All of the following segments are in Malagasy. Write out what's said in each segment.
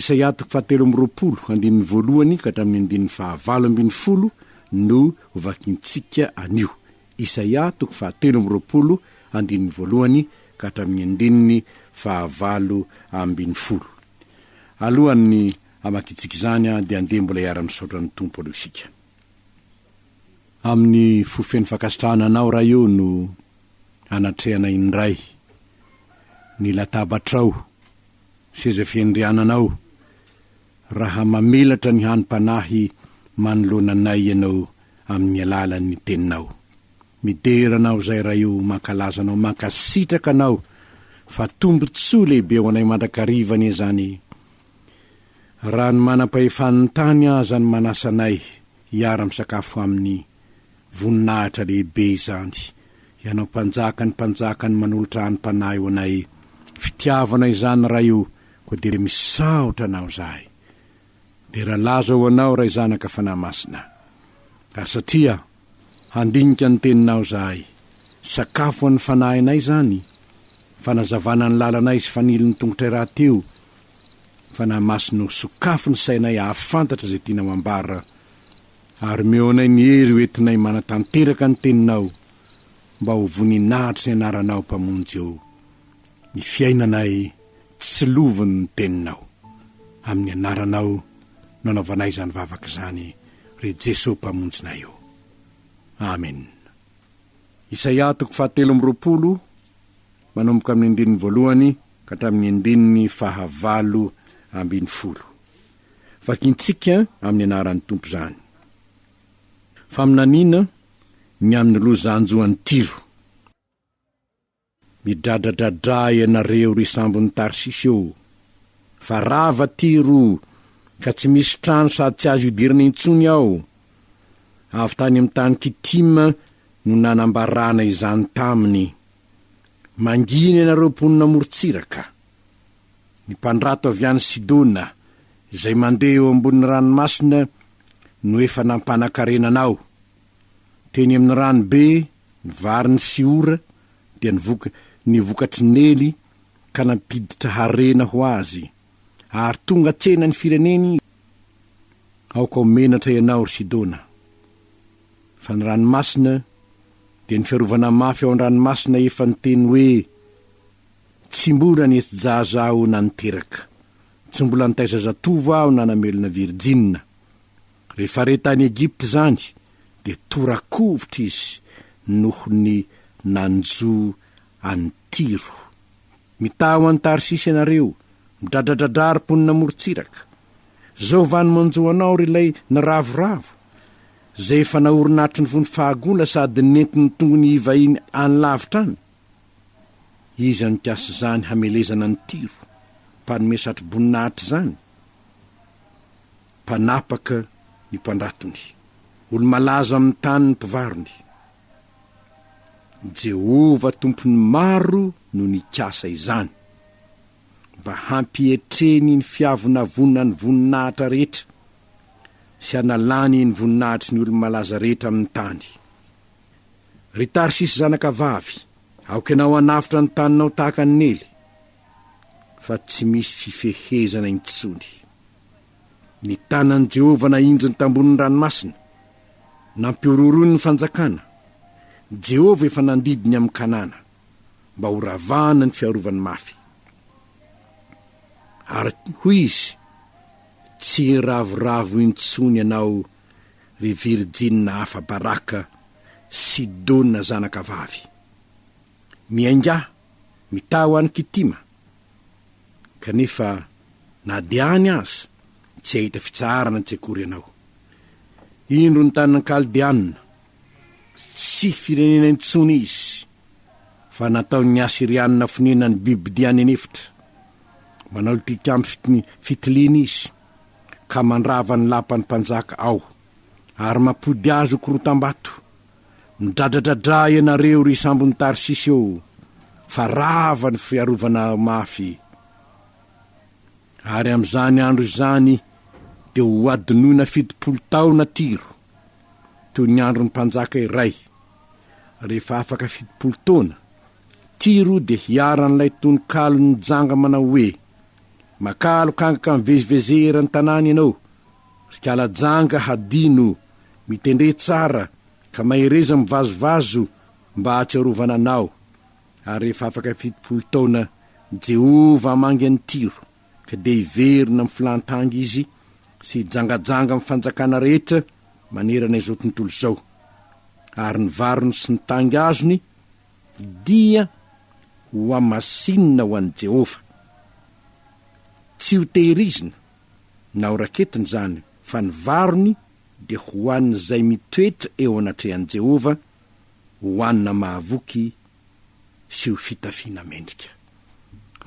Isaia toko fahatelo amby roapolo, andininy voalohany ka hatramin'ny andininy fahavalo ambin'ny folo no hovakintsika anio. Isaia toko fahatelo amby roapolo, andininy voalohany ka hatramin'ny andininy fahavalo ambin'ny folo. Alohan'ny hamakintsika izany dia andeha mbola hiara-misaotra ny Tompo aloha isika. Amin'ny fo feno fankasitrahana Anao, Ray ô, no anatrehanay indray ny latabatrao. Seza fiandriananao, raha mamelatra ny hanim-panahy manoloana anay ianao amin'ny alalan'ny Teninao. Midera anao izay Ray o, mankalaza anao, mankasitraka anao fa tombontsoa lehibe ho anay mandrakariva anie izany. Raha ny manam-pahefan'ny tany aza no manasa anay hiara-misakafo aminy, Voninahitra lehibe izany, Ianao Mpanjaka ny Mpanjaka ny manolotra any Mpanahy ho anay, fitiavana izany Ray o, koa dia misaotra Anao zahay. Dera laza ho Anao Ray Zanaka Fanahy Masina. Ary satria handinika ny Teninao zahay, sakafo an'ny fanahinay izany, fanazavana ny lalanay sy fanilin'ny tongotray rahateo, Fanahy Masina o, sokafy ny sainay hahafantatra izay tianao hambara Ary omeo anay ny hery ho entinay manatanteraka ny Teninao, mba ho voninahitr'i ny Anaranao, Mpamonjy ô, ny fiainanay tsy lovin' ny Teninao. Amin' ny Anaranao no anaovanay izany vavaka izany, ry Jeso Mpamonjinay ô. Amena. Isaia toko fahatelo amby roapolo, manomboka amin' ny andininy voalohany ka hatramin' ny andininy fahavalo ambin'ny folo. Vakintsika amin'ny anaran'ny Tompo izany. Faminaniana ny amin'ny loza hanjo an'i Tyro. Midradradradra ianareo ry sambon'i Tarsisy ô! Fa rava Tyro ka tsy misy trano sady tsy azo idirana intsony ao. Avy tany amin'ny tany Kitima no nanambarana izany taminy. Mangina ianareo mponina amorontsiraka! Ny mpandrato avy any Sidona, izay mandeha eo ambonin'ny ranomasina, no efa nampanan-karena anao. Teny amin'ny rano be, ny varin'i Siora dia nivoka ny vokatry Nely ka nampiditra harena ho azy, ary tonga tsena ny fireneny izy. Aoka ho menatra ianao, ry Sidona, fa ny ranomasina dia ny fiarovana mafy ao an-dranomasina efa niteny hoe, Tsy mbola nety-jaza aho nanin-teraka. Tsy mbola nitaiza zatovo aho nanamelona virjina. Rehefa re tany Egypte izany dia tora-kovitra izy noho ny nanjo an'i Tyro. Mitaha ho any Tarsisy ianareo, midradradradra ry mponina morontsiraka. Izao va no manjo anao ry ilay niravoravo, izay efa naorin'atro ny fony fahagola sady nentin'ny tongony hivahiny any lavitra any? Iza nikasa izany hamelezana ny tiro, mpanome satroboninahitra izany? Mpanapaka ny mpandratony, olo-malaza amin'ny tany ny mpivarony. Jehovah Tompon'ny maro no nikasa izany, mba hampietreny ny fiavonavonan'ny voninahitra rehetra, sy hanalany ny voninahitry ny olo-malaza rehetra amin'ny tany. Ry Tarsisy zanakavavy, aoka ianao hanavotra ny taninao tahaka ny nely, fa tsy misy fifehezana intsony. Ny tanan'i Jehovah nahinjiny tambonin'ny ranomasina, nampihorohoroiny ny fanjakana, Jehovah efa nandidy ny amin'i Kanana, mba horavahana ny fiarovany mafy. Ary hoy izy, Tsy hiravoravo intsony ianao ry virijina hafa Baraka sy Dona zanaka vavy. Miaingà, mitaha ho an'i Kitima. Kanefa na dia any aza, tsy hahita fitsaharana tsy akory ianao. Indro ny tanin'ny Kaldeanina. Tsy firenena intsony izy, fa nataon'ny Asyrianina fonenan'ny bibidia any an'efitra. Manao tilikambo fitiliana izy. ka mandrava ny lapan'ny mpanjaka ao, ary mampody azy ho korotam-bato. Midradradradrà ianareo, ry sambon'i Tarsisy ô, fa rava ny fiarovana mafy. Ary amin'izany andro izany dia hohadinoina fitopolo taona Tiro, toy ny andron'ny mpanjaka iray. Rehefa afaka fitopolo taona, Tiro dia hiharan'ilay tononkalon'ny janga manao hoe, Makà alokangaka mivezivezea eran'ny tanàna ianao, ry kala-janga hadino, mitendré tsara ka mahereza mivazovazo mba hahatsiarovana anao. Ary rehefa afaka fitopolo taona, Jehovah hamangy an'i Tyro, ka dia hiverina amin'ny filan-tanga izy sy hijangajanga amin'ny fanjakana rehetra manerana izao tontolo izao. Ary ny varony sy ny tanga azony Dia hohamasinina ho an'i Jehovah. Tsy hotehirizina na horaketina izany, fa ny varony dia ho an'izay mitoetra eo anatrehan'i Jehovah, hohanina mahavoky sy ho fitafiana mendrika.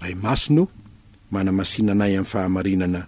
Ray Masina ô, manamasina anay amin'ny fahamarinana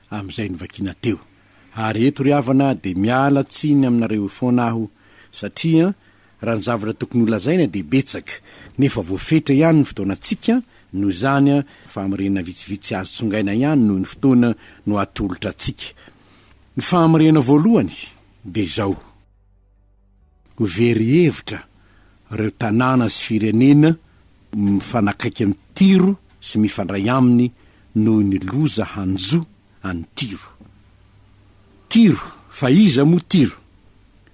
amin'izay novakiana teo. Ary eto ry havana dia miala tsiny aminareo foana aho satria raha ny zavatra tokony holazaina dia betsaka nefa voafetra ihany ny fotoanantsika noho izany fahamarinana vitsivitsy azo tsongaina ihany noho ny fotoana no atolotra antsika. Ny fahamarinana voalohany dia izao. Ho very hevitra ireo tanàna sy firenena mifanakaiky an'i Tyro sy mifandray aminy noho ny loza hanjo an'i Tyro. Tyro, fa iza moa Tyro?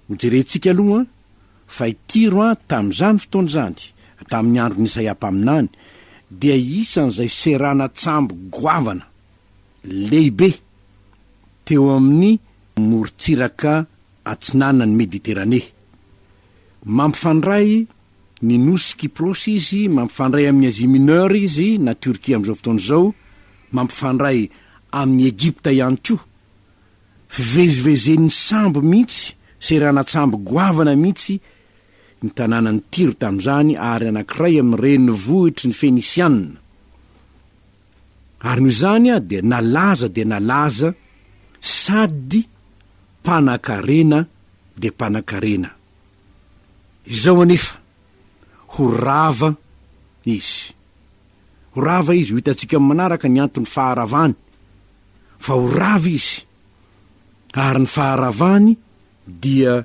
Hojerentsika aloha fa i Tyro tamin'izany fotoana izany, tamin'ny andron'i Isaia mpaminany, dia isan'izay seranan-tsambo goavana lehibe teo amin'ny morontsiraka atsinanan'i Mediteranea. Mampifandray ny nosy Kyprosy izy, mampifandray amin'i Asie Mineure izy, na Turquie amin'izao fotoana izao, mampifandray amin'i Egypta ihany koa. Fivezivezen'ny sambo mihitsy, seranan-tsambo goavana mihitsy, ny tanànan'i Tyro tamin'izany, ary anankiray amin'ny renivohitry ny Fenisiana. ary noho izany aho dia nalaza dia nalaza sady mpanakarena dia mpanakarena. Izao anefa, ho rava izy. Ho rava izy, ho hitantsika amin'ny manaraka ny antony faharavany, fa ho rava izy, ary ny faharavany dia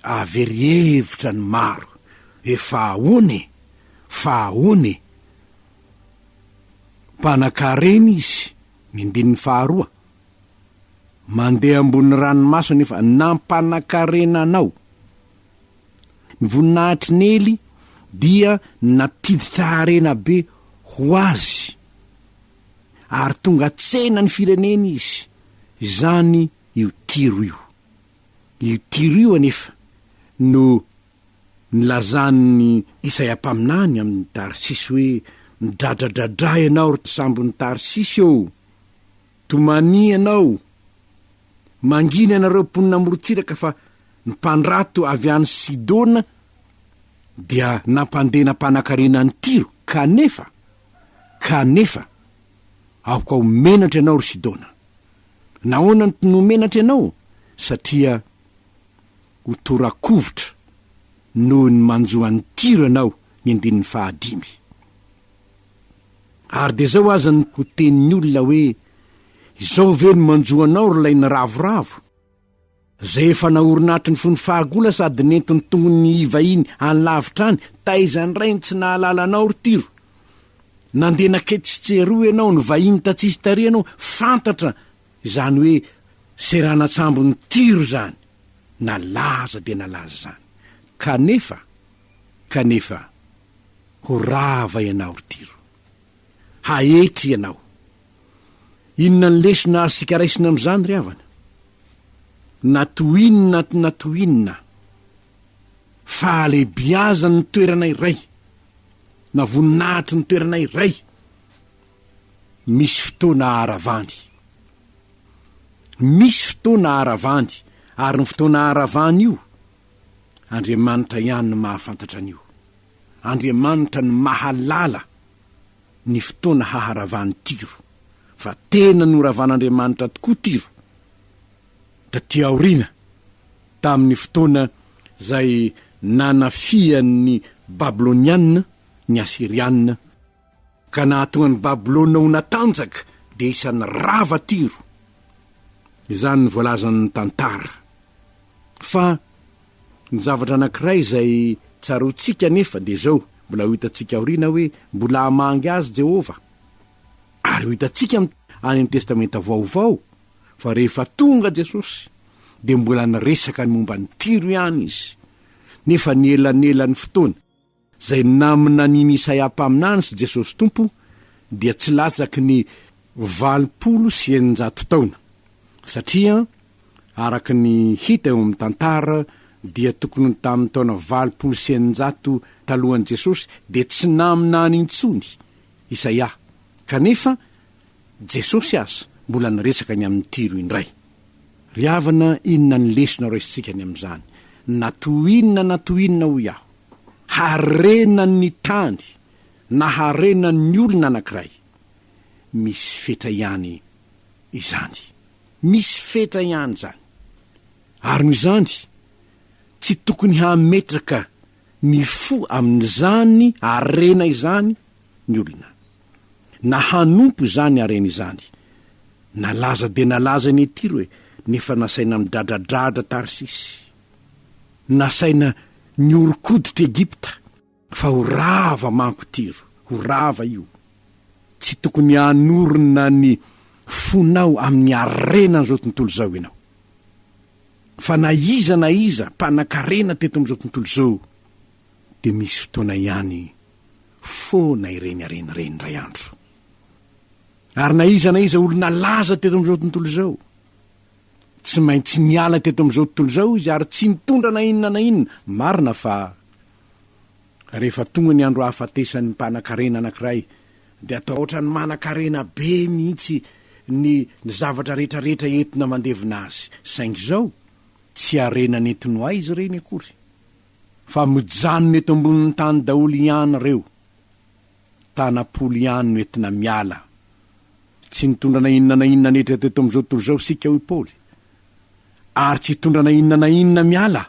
avery hevitra ny maro. Efa ahoana e? Fa ahoana e? Mpanankarena izy, ny andininy faharoa, Mandeha ambony ranomaso anefa nampanankarena anao. Ny voninahitr'i Nely dia nampiditra harena be ho azy ary tonga tsena ny fireneny izy, izany io tiro io. Io tiro io anefa no. Nilazan'i Isaia mpaminany amin'i Tarsisy hoe, Midradradradra ianao, ry mpitsambon'i Tarsisy ô! Tomania ianao! Mangina ianareo mponina amorontsiraka fa ny mpandrato avy any Sidona dia nampandena mpanankarena an'i Tyro, kanefa, kanefa, aoka ho menatra ianao, ry Sidona! Nahoana no ho menatra ianao? Satria ho tora-kovitra noho ny manjo an'i Tyro ianao, ny andininy fahadimy. Ary dia izao aza no ho tenin'ny olona hoe, Izao ve no manjo anao ry lay niravoravo, izay efa naorina hatry ny fony fahagola sady nentin'ny tongon'ny iva iny any lavitra any, taiza indray ny tsy nahalala anao ry Tyro? Nandeha naketsy sy eroa ianao, nivahiny tatsisy tarehy ianao, fantatra izany hoe seranan-tsambon'i Tyro izany. nalaza dia nalaza izany. Kanefa, kanefa, ho rava ianao, ry Tyro. Haetry ianao. Inona ny lesona azontsika raisina amin'izany, ry havana? Na toy inona na toy inona, fahalehibiazan'ny toerana iray, na voninahitry ny toerana iray, Misy fotoana haharavandy. Misy fotoana haharavandy, ary ny fotoana haharavany io, Andriamanitra ihany no mahafantatra an'io. Andriamanitra no mahalala ny fotoana haharavan'i Tyro, fa tena noravan'Andriamanitra tokoa Tyro, taty aoriana, tamin'ny fotoana izay nanafihan'ny Babylonianina ny Asirianina, Ka nahatonga an'i Babylona ho natanjaka dia isan'ny rava Tyro. Izany no voalazan'ny tantara. Fa ny zavatra anankiray izay tsaroantsika anefa dia izao, mbola ho hitantsika aoriana hoe mbola hamangy azy Jehovah. Ary ho hitantsika any amin'ny Testamenta Vaovao fa rehefa tonga Jesosy dia mbola niresaka ny momba an'i Tyro ihany izy, nefa ny elanelan'ny fotoana. Izay naminanian'i Isaia mpaminany sy Jesosy Tompo dia tsy latsaky ny valopolo sy eninjato taona, satria araka ny hita eo amin'ny tantara dia tokony ho tamin'ny taona valopolo sy eninjato talohan'i Jesosy dia tsy naminany intsony Isaia, kanefa Jesosy aza mbola niresaka ny amin'ny Tiro indray. Ry havana, inona ny lesona raisintsika any amin'izany? Na toy inona na toy inona, hoy aho, Harenan'ny tany na harenan'ny olona anankiray. Misy fetra ihany izany. Misy fetra ihany izany. Ary noho izany, tsy tokony hametraka ny fo amin'izany harena izany ny olona, na hanompo izany harena izany. Nalaza dia nalaza ny Tiro e, nefa nasaina midradradradra Tarsisy. nasaina nihoron-koditra Egypta. Fa ho rava manko Tyro, ho rava io. Tsy tokony hanorina ny fonao amin'ny harenan'izao tontolo izao ianao. Fa na iza na iza mpanan-karena teto amin'izao tontolo izao dia misy fotoana ihany foana ireny harena ireny indray andro. Ary na iza na iza olona laza teto amin'izao tontolo izao, Tsy maintsy niala teto amin'izao tontolo izao izy ary tsy nitondra na inona na inona. Marina fa rehefa tonga ny andro hahafatesan'ny mpanan-karena anankiray, dia atao hoatran'ny manan-karena be mihitsy ny zavatra rehetrarehetra entina mandevina azy. Saingy izao, tsy harena nentin'ny ho aiza ireny akory, fa mijanona eto ambonin'ny tany daholo ihany ireo. Tanam-polo ihany no entina miala. Tsy nitondra na inona na inona neitra teto amin'izao tontolo izao isika, hoy Paoly, ary tsy hitondra na inona na inona miala.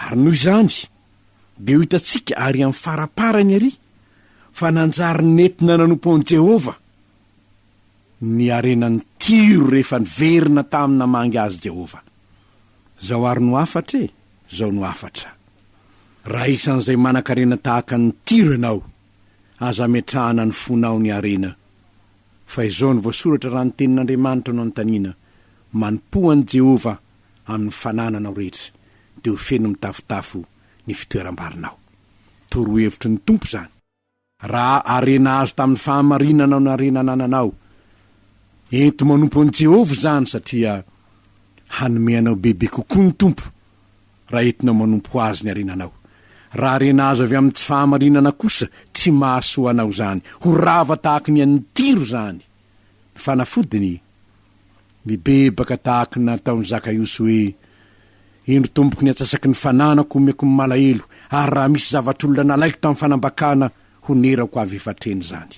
Ary noho izany, dia ho hitantsika àry amin'ny faraparany àry fa nanjary nentina nanompo an'i Jehovah. ny harenan'i Tyro rehefa niverina tamin'ny namangy azy Jehovah. Izao àry no hafatra e! Izao no hafatra, Raha isan'izay manan-karena tahaka an'i Tyro ianao, aza ametrahana ny fonao ny harena. Fa izao no voasoratra raha ny Tenin'Andriamanitra no anontaniana, Manompoa an'i Jehovah amin'ny fanananao rehetra, dia ho feno mitafotafo ny fitoeram-barinao. Torohevitry ny Tompo izany. Raha harena azo tamin'ny fahamarinanao ny harena anananao, ento manompo an'i Jehovah izany, satria hanome anao bebe kokoa ny Tompo, raha entinao manompo azy ny harenanao. Raha harena azo avy amin'ny tsy fahamarinana kosa, tsy mahasoa anao izany. Ho rava tahaka ny an'ny Tiro izany ny fanafodiny. Mibebaka tahak ny nataon Zakaiosy hoe, Indro tompoko ny atsasaky ny fananako omeko ny malahelo, ary raha misy zavatr olona nalaiko tam fanambakana honerako avy efa treny zany.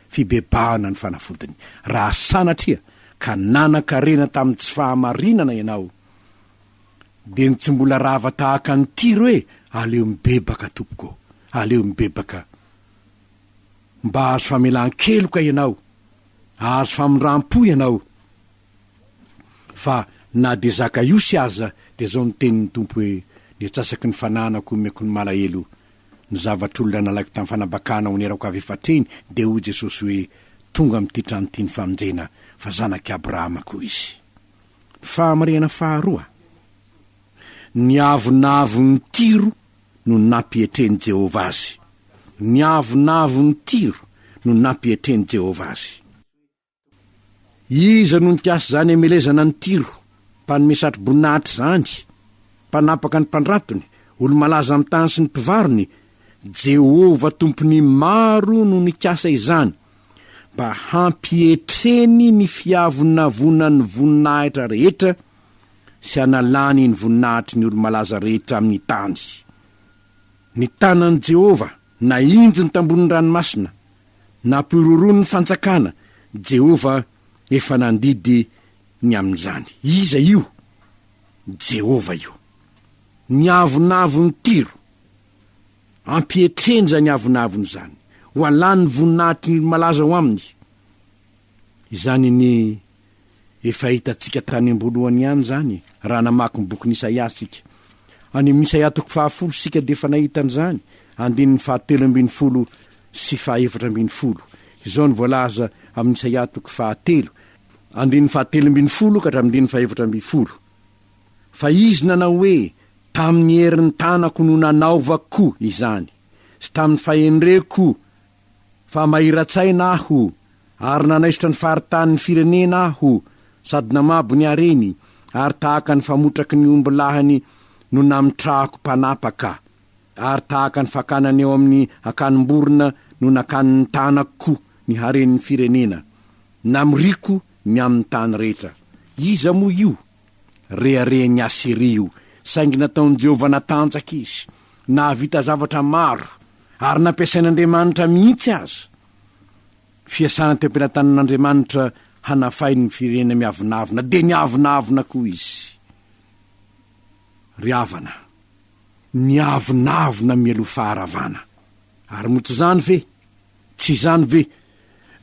Fibebahana ny fanafodiny. Raha sanatria ka nanan karena tam tsy fahamarinana ianao dia ny tsy mbola rava tahaka ny Tiro e, aleo mibebaka tompoko, aleo mibebaka mba hahazo famelan keloka ianao, Hahazo famindram-po ianao. Fa na dia Zakaiosy aza dia izao no tenin'ny Tompo hoe, Ny atsasaky ny fananako omeko ny malahelo. Ny zavatr'olona nalaiko tamin'ny fanambakana ho nirako avy efatr'eny dia hoy Jesosy hoe, Tonga amin'ity trano ity ny famonjena, fa zanak'i Abrahama koa izy. Ny fahamarinana faharoa, Niavonavon'i Tyro no nampietren'i Jehovah azy. Ny avonavon'i Tyro no nampietren'i Jehovah azy. Iza no nikasa izany hamelezana an'i Tyro, mpanome satroboninahitra izany, mpanapaka ny mpandratony, olo-malaza amin'ny tany sy ny mpivarony? Jehovah Tompon'ny maro no nikasa izany, mba hampietreny ny fiavonavonan'ny voninahitra rehetra sy hanalany ny voninahitry ny olo-malaza rehetra amin'ny tany. Ny tanan'i Jehovah nahinjy ny tambohon'ny ranomasina, nampihorohoro ny fanjakana, Jehovah efa nandidy ny amin'izany. Iza io? Jehovah io. Ny avonavon'i Tyro. Ampihetrenja ny avonavony izany, ho alany ny voninahitry ny olo-malaza ao aminy. Izany ny Efa hitantsika tany am-boalohany ihany izany raha namaky ny bokin'i Isaia isika. Any amin'ny Isaia toko fahafolo isika dia efa nahita an'izany, andininy fahatelo ambin'ny folo sy fahefatra ambin'ny folo. Izao no voalaza amin'ny Isaia toko fahatelo, andininy fahatelo ambin'ny folo ka hatramin'ny andininy fahefatra ambin'ny folo, Fa izy nanao hoe, Tamin'ny herin'ny tanako no nanaovako izany, sy tamin'ny fahendreko Fa mahira-tsaina aho, ary nanaisotra ny faritanin'ny firenena aho, sady namabo ny hareny, ary tahaka ny famotraky ny omby lahiny no namitrahako mpanapaka, ary tahaka ny fakana ny eo amin'ny akanim-borona no nakanin'ny tanako ny haren'ny firenena. Namoriako ny amin'ny tany rehetra. Iza moa io? Reharehan'i Asiria io, saingy nataon'i Jehovah natanjaka izy. Nahavita zavatra maro, ary nampiasain'Andriamanitra mihitsy aza. Fiasana teo am-pelatanan'Andriamanitra hanafay ny firenena miavonavona, dia niavonavona koa izy. Ry havana, niavonavona mialoha faharavana. Ary moa tsy izany ve? Tsy izany ve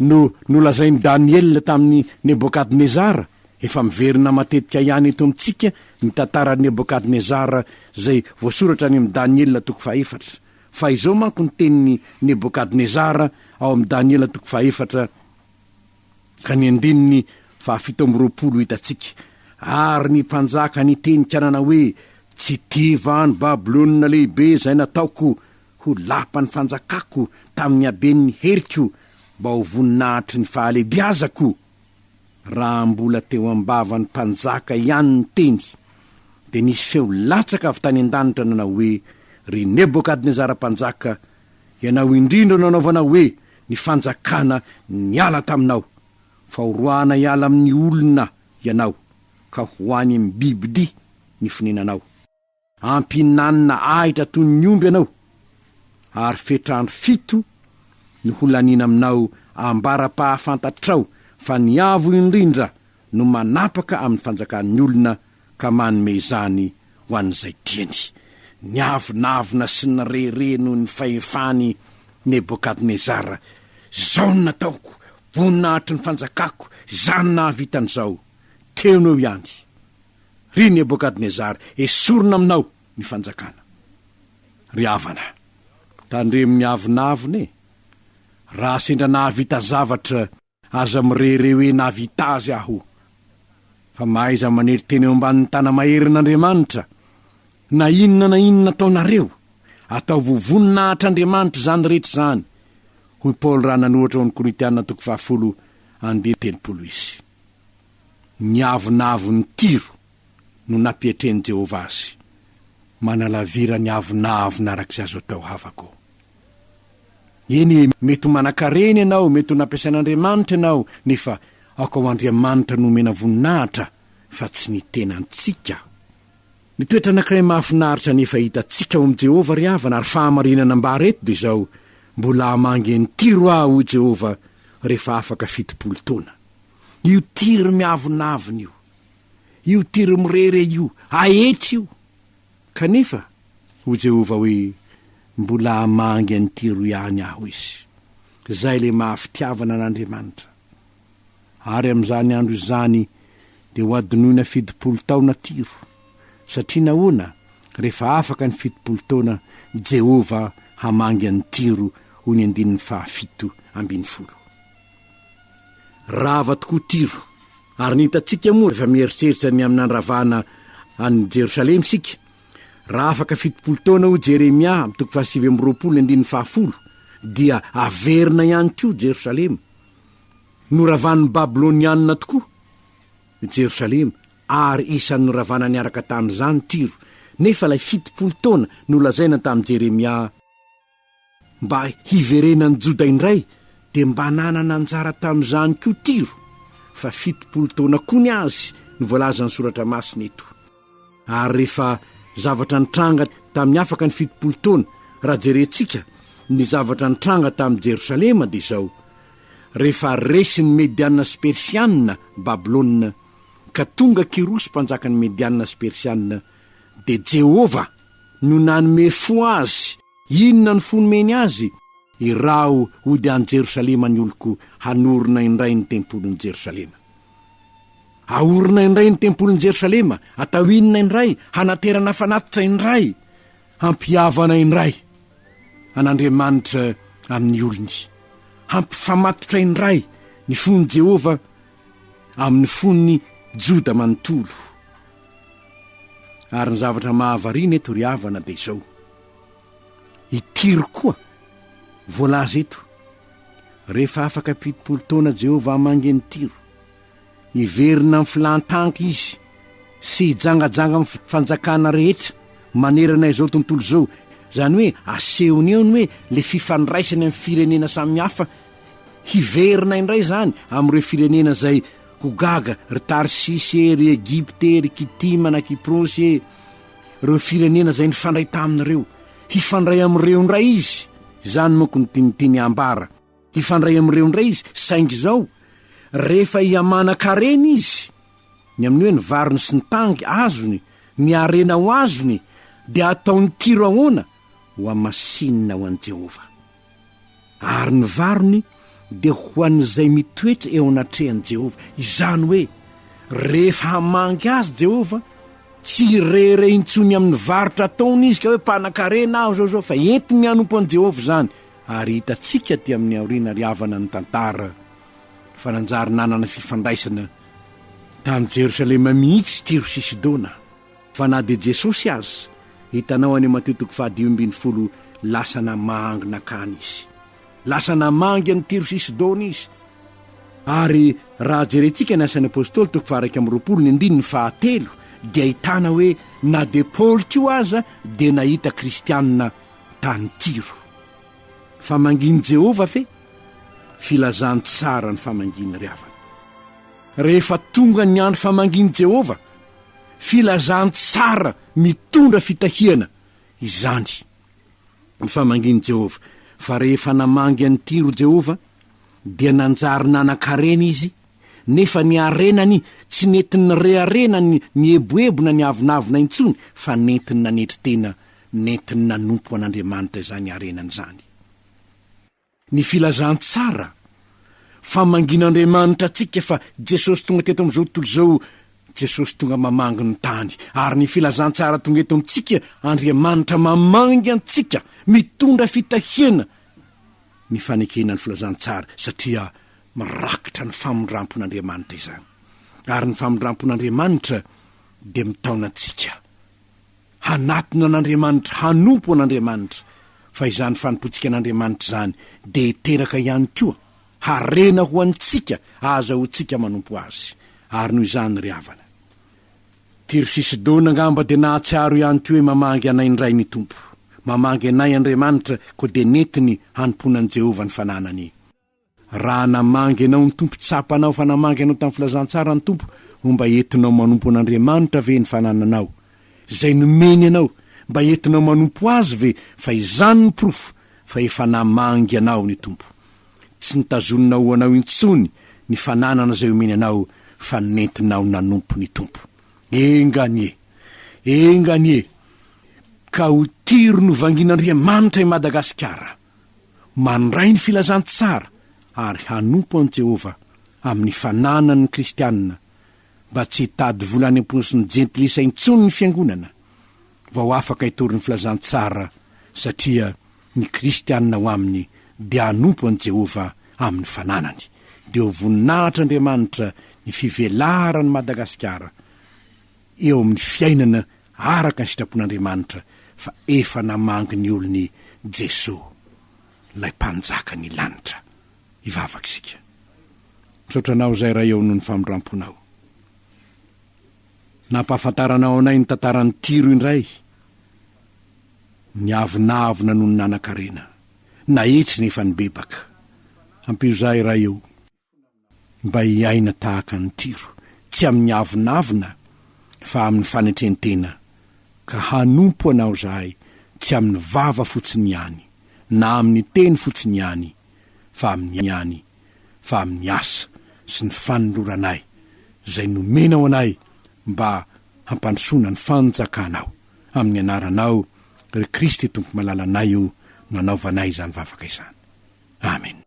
no nolazain'i Daniela tamin'i Nebôkadnezara? Efa miverina matetika ihany eto amintsika ny tantaran'i Nebôkadnezara izay voasoratra any amin'i Daniela toko fahefatra. Fa izao manko ny tenin'i Nebôkadnezara ao amin'i Daniela toko fahefatra ka ny andininy fahafito amby roapolo hitantsika, Ary ny mpanjaka niteny-kanana hoe, Tsy tia va ny Babylona Lehibe izay nataoko Ho lapa ny fanjakako tamin'ny haben'ny heriko mba ho voninahitry ny fahalehibiazako. Raha mbola teo am-bavan'ny mpanjaka ihany ny teny, dia nisy feo latsaka avy tany an-danitra nanao hoe, Ry Nebokadnezara mpanjaka, ianao indrindra no anaovana hoe ny fanjakana niala taminao, fa horoahana hiala amin'ny olona ianao, ka ho any amin'ny bibidia ny fonenanao. Ampihinanina ahitra toy ny omby ianao, ary fetr'andro fito no holaniana aminao ambara-pahafantatrao fa ny Avo Indrindra no manapaka amin'ny fanjakan'ny olona ka manome izany ho an'izay tiany. Niavonavona sy nirehareha noho ny fahefan'i Nebokadnezara, Izao no nataoko, voninahitr'ny fanjakako izany nahavita an'izao. Teo no eo ihany. Ry Nebokadnezara, esorina aminao ny fanjakana. Ry havana, tandremo ny avonavona e! Raha sendra nahavita zavatra, aza mirehareha hoe nahavita azy aho. Fa mahaiza manery tena eo ambanin'ny tana-maherin'Andriamanitra. Na inona na inona ataonareo, ataovo voninahitra Andriamanitra izany rehetra izany, hoy Paoly raha nanohatra ao amin'ny Korintiana toko fahafolo andinin'ny telopolo izy. Ny avonavon'i Tyro no nampietren'i Jehovah azy, manalavira ny avonavona araka izay azo atao havako. Eny, mety ho manankarena ianao, mety ho nampiasain'Andriamanitra ianao, nefa aoka ho Andriamanitra no omena voninahitra, fa tsy ny tenantsika. Ny toetra anankiray mahafinaritra anefa hitantsika ao amin'i Jehovah ry havana, ary fahamarinana ambara eto, dia izao, Mbola hamangy an'i Tyro aho, hoy Jehovah, rehefa afaka fitopolo taona. io tir miavonavona io, io tir mirere io, aetry io. Kanefa, hoy Jehovah hoe, Mbola hamangy an'i Tiro ihany aho izy, izay ilay maha-fitiavana an'Andriamanitra. Ary amin'izany andro izany dia hohadinoina fitopolo taona Tiro. Satria nahoana? Rehefa afaka ny fitopolo taona, Jehovah hamangy an'i Tiro, hoy ny andininy fahafito ambin'ny folo. Rava tokoa Tyro. Ary ny hitantsika moa rehefa mieritreritra ny amin'ny nandravana an'i Jerosalema isika? Raha afaka fitopolo taona hoy Jeremia amin'ny toko fahasivy amby roapolo ny andininy fahafolo, dia haverina ihany koa Jerosalema. Noravan'ny Babylonianina tokoa Jerosalema, ary isan'ny noravana niaraka tamin'izany Tyro, nefa ilay fitopolo taona nolazaina tamin'i Jeremia, Mba hiverenan'ny Joda indray, dia mba nanana anjara tamin'izany koa Tyro, fa fitopolo taona koa ny azy no voalazan'ny Soratra Masina eto. Ary rehefa zavatra nitranga tamin'ny afaka ny fitopolo taona, raha jerentsika ny zavatra nitranga tamin'i Jerosalema, dia izao, Rehefa resin'ny Medianina sy Persianina Babylona, ka tonga Kyrosy mpanjakan'ny Medianina sy Persianina, dia Jehovah no nanome fo azy, Inona no fo nomeny azy? Iraho hody any Jerosalema ny oloko hanorina indray ny tempolin'i Jerosalema. Ahorina indray ny tempolin'i Jerosalema, atao inona indray? Hanaterana fanatitra indray, hampihavana indray an'Andriamanitra amin'ny olony, hampifamatotra indray ny fon'i Jehovah amin'ny fon'ny Joda manontolo. Ary ny zavatra mahavariana eto ry havana dia izao, I Tyro koa, voalaza eto, rehefa afaka fitopolo taona Jehovah hamangy an'i Tyro. Hiverina amin'ny filan-tanka izy sy hijangajanga amin'ny fanjakana rehetra manerana izao tontolo izao. Izany hoe asehony eo ny hoe ilay fifandraisany amin'ny firenena samihafa. Hiverina indray izany amin'ireo firenena izay ho gaga, ry Tarsisy e, ry Egypta e, ry Kitima na Kiprosy e. ireo firenena izay nifandray taminy ireo, hifandray amin'ireo indray izy, izany manko no tian'ny teny ambara, hifandray amin'ireo indray izy, saingy izao, rehefa hihamanankarena izy, ny amin'ny hoe ny variny sy ny tany azony, ny harena ho azony, dia hataony kiro ahoana? Hohamasinina ho an'i Jehovah. Ary ny varony dia ho an'izay mitoetra eo anatrehan'i Jehovah, izany hoe rehefa hamangy azy Jehovah, tsy hirehirehy intsony amin'ny varotra ataony izy ka hoe mpanan-karena aho izao izao, fa entiny hanompo an'i Jehovah izany. Ary hitantsika aty amin'ny aoriana ry havana ny tantara fa nanjary nanana fifandraisana tamin'i Jerosalema mihitsy Tiro sy Sidona. Fa na dia Jesosy aza, hitanao any Matio toko fahadimy ambin'ny folo, lasa namangy nankany izy. Lasa namangy an'i Tyro sy Sidona izy. Ary raha jerentsika ny Asan'ny Apostoly toko faha-iraika amby roapolo ny andininy fahatelo, dia ahitana hoe na dia Paoly koa aza dia nahita kristianina tany Tyro. Fa mangin'i Jehovah ve? Filazantsara ny famangiany ry havana. Rehefa tonga ny andro famangian'i Jehovah, Filazantsara mitondra fitahiana izany. Ny famangian'i Jehovah. Fa rehefa namangy an'i Tyro Jehovah, dia nanjary nanan-karena izy, nefa ny harenany tsy nentiny nirehareha na nieboebo na niavonavona intsony, fa nentiny nanetry tena, nentiny nanompo an'Andriamanitra izany harenany izany. Ny filazantsara fa mangin'Andriamanitra antsika fa Jesosy tonga teto amin'izao tontolo izao, Jesosy tonga mamangy ny tany, ary ny filazantsara tonga eto amintsika, Andriamanitra mamangy antsika, mitondra fitahiana ny fanekena ny filazantsara satria mirakitra ny famindrampon'Andriamanitra izany. Ary ny famindrampon'Andriamanitra dia mitaona antsika. hanatona an'Andriamanitra, hanompo an'Andriamanitra, fa izany fanompoantsika an'Andriamanitra izany dia hiteraka ihany koa harena ho antsika ahazahoantsika manompo Azy. Ary noho izany ry havana, Tiro sy Sidona angamba dia nahatsiaro ihany koa hoe mamangy anay indray ny Tompo, mamangy anay Andriamanitra, koa dia nentiny hanompoana an'i Jehovah ny fananany. Raha namangy anao ny Tompo, tsapanao fa namangy anao tamin'ny filazantsara ny Tompo ho mba entinao manompo an'Andriamanitra ve ny fanananao izay nomeny anao? Mba entinao manompo Azy ve? Fa izany no porofo fa efa namangy anao ny Tompo. Tsy nitazonina ho anao intsony ny fananana izay omeny anao fa nentinao nanompo ny Tompo. Enga anie! Enga anie! Ka ho tiry novangin'Andriamanitra i Madagasikara! mandray ny filazantsara ary hanompo an'i Jehovah amin'ny fananany ny Kristianina mba tsy hitady vola any am-paosin'ny Jentilisa intsony ny fiangonana vao afaka hitory ny filazantsara, satria ny Kristianina ao aminy dia hanompo an'i Jehovah amin'ny fananany. Dia ho voninahitr'Andriamanitra ny fivelaran'i Madagasikara. eo amin'ny fiainana araka ny sitrapon'Andriamanitra fa efa namangy ny olony Jesoa, ilay Mpanjaka ny lanitra. Hivavaka isika. Misaotra Anao izay Ray eo noho ny famindramponao. Nampahafantaranao anay ny tantaran'i Tyro indray. Niavonavona noho ny nanan-karena. Nahitsy nefa nibebaka. Ampio izahay Ray o. Mba hiaina tahaka an'i Tyro, tsy amin'ny avonavona fa amin'ny fanetren-tena, ka hanompo Anao izahay tsy amin'ny vava fotsiny ihany, na amin'ny teny fotsiny ihany, fa amin'ny ihany, fa amin'ny asa sy ny fanoloranay izay nomenao anay mba hampandrosoana ny fanjakanao, amin'ny anaranao ry Kristy Tompo malalanay io no anaovanay izany vavaka izany. Amen.